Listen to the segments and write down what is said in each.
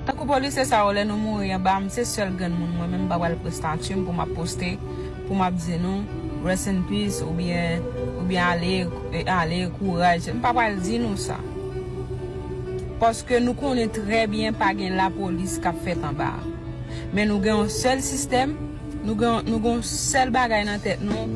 Tankou polisye sa yo lè nou mouri anba m se sèl grenn moun mwen menm m pa pral pran statu m pou m ap poste pou m ap di nou rest in peace oubyen oubyen ale ale kouraj m pa pral di nou sa paske nou konnen trè byen pa gen lapolis k ap fèt anba men nou gen yon sèl sistèm Nou gen nou gen yon sèl bagay nan tèt nou,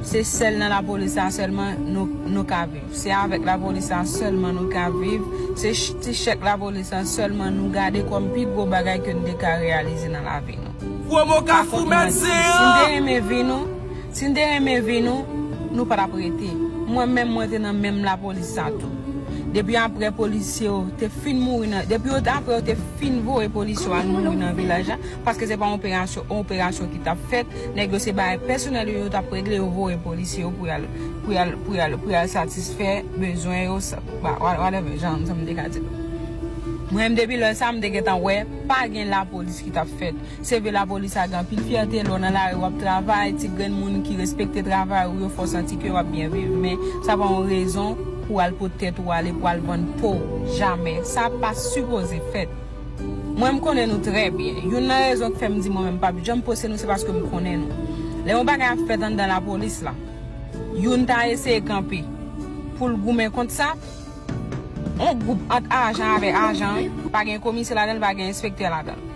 se sèl nan lapolis la sèlman nou nou ka viv. Se avèk lapolis la sèlman nou ka viv, se ti chèk lapolis la sèlman nou gade kòm pi gwo bagay ke nou te ka reyalize nan lavi nou. Pwomo Kafou mèt zen an! Si nou te renmen vi nou, si nou te renmen vi nou, nou pa t ap rete. Mwen menm mwen te nan menm lapolis sa tou. Depi aprè polisye yo te fin mouri nan, depi yo te aprè yo te fin voye polisye yo al mouri nan vilaj la, Paske se pa yon operasyon ki tap fèt, nèg yo se bagay pèsonèl yo yo tap regle yo voye polisye yo pou yal satisfè bezwen yo whatever jan m te ka di l. Mwen menm depi lè sa m te gentan wè pa gen lapolis ki tap fèt. Se vre lapolis a gen anpil fyète lè w nan lari wap travay ti grenn moun ki respekte travay ou yo fè w santi ke wap byen viv men sa pa yon rezon pou al pot tèt ou ale pou al vann po w jamè sa pa sipoze fèt. Mwen m konnen nou trè byen. Youn nan rezon k fè m di mwen menm m pap janm poste nou se paske m konnen nou. Lè yon bagay ap fèt anndan lapolis la, youn ta eseye kanpe pou l goumen kont sa, yon gwoup ant ajan avèk ajan, pa gen komisè ladan l, pa gen enspektè ladan l.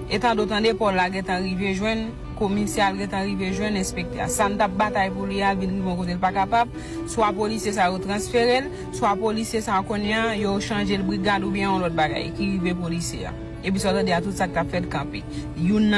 E tandotan depò l la gen tan rive jwenn komisè a, l gen tan rive jwenn enspektè a. Sa n t ap batay pou li a, l vin rive yon kote l pa kapab, swa polisye sa yo transfere l, Swa polisye sa a kounye a yo chanje l brigad oubyen yon lòt bagay ki rive polisye a. Epi sa w tande a tout sa k t ap fèt kanpe. Youn nan.